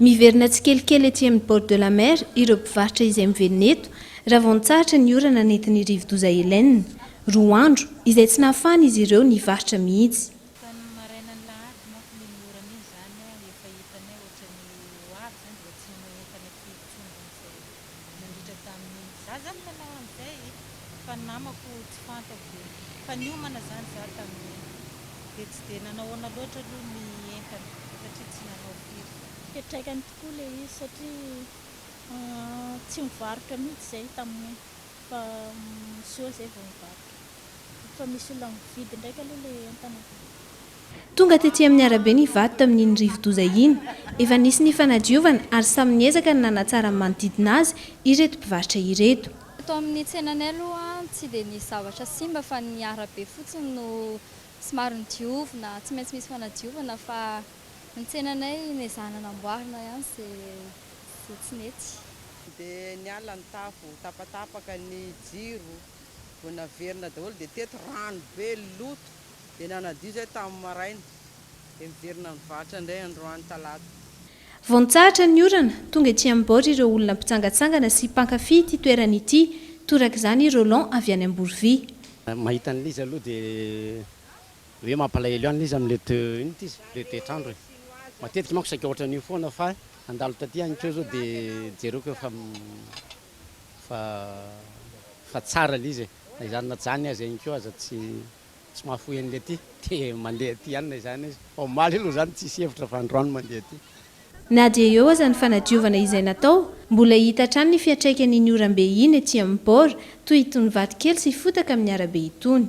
Miverina tsikelikely ety amin'ny bord de la mer ireo mpivarotra izay mivelona eto raha vao nitsahatra ny orana nentin'ny rivodoza Helene. Roa andro izay tsy nahafahan'izy ireo nivarotra mihitsy. Tamin'ny marainan'ny lahady manko iny iny orana iny izany, efa hitanay ohatran'ny ho avy izany dia efa tsy nanao entana aty intsony hono izahay. nandritra tamin'ny za zany nanao an'izay fa ny namako tsy fantako dia efa niomana zany za tamin'iny dia tsy dia nanahoana loatra aloha ny entana satria tsy nanao firy. Fiantraikany tokoa le izy satria tsy nivarotra mihitsy zay tamin'iny fa mizoa zay vao nivarotra. Efa misy olona mividy ndraika aloha le entana avy any ivelany. Tonga tety amin'ny arabe ny vato tamin'iny rivodoza iny. Efa nisy ny fanadiovana ary samy niezaka ny nanatsara ny manodidina azy ireto mpivarotra ireto. Eto amin'ny tsenanay aloha tsy dia nisy zavatra simba fa ny arabe fotsiny no somary nodiovina, tsy maintsy misy fanadiovana fa ny tsenanay nezahana namboarina ihany izay tsy nety. Dia niala ny tafo, tapatapaka ny jiro, vao naverina daholo dia teto rano be loto dia nanadio izay tamin'ny maraina dia miverina nivarotra indray androany talata. Vao nitsahatra ny orana, tonga ety amin'ny bord ireo olona mpitsangatsangana sy mpankafy ity toerana ity, torak'izany i Roland avy any Amborovia. Mahita an'i Liza aloha dia hoe mampalahelo ihany Liza amin'ilay to, inona ity izy? ilay toetr'andro e! matetika manko saika ohatran'io foana fa handalo taty ihany koa zao dia jereko efa fa fa tsara le izy e, na izany na jany aza ihany koa aza tsy tsy mahafoy an'le aty de mandeha aty ihany na izany na izany, omaly aloha zany tsisy hevitra fa androany mandeha aty. Na dia eo aza ny fanadiovana izay natao, mbola hita hatrany ny fiantraikan'iny oram-be iny ety amin'ny bord, toy itony vato kely sy fotaka amin'ny arabe itony.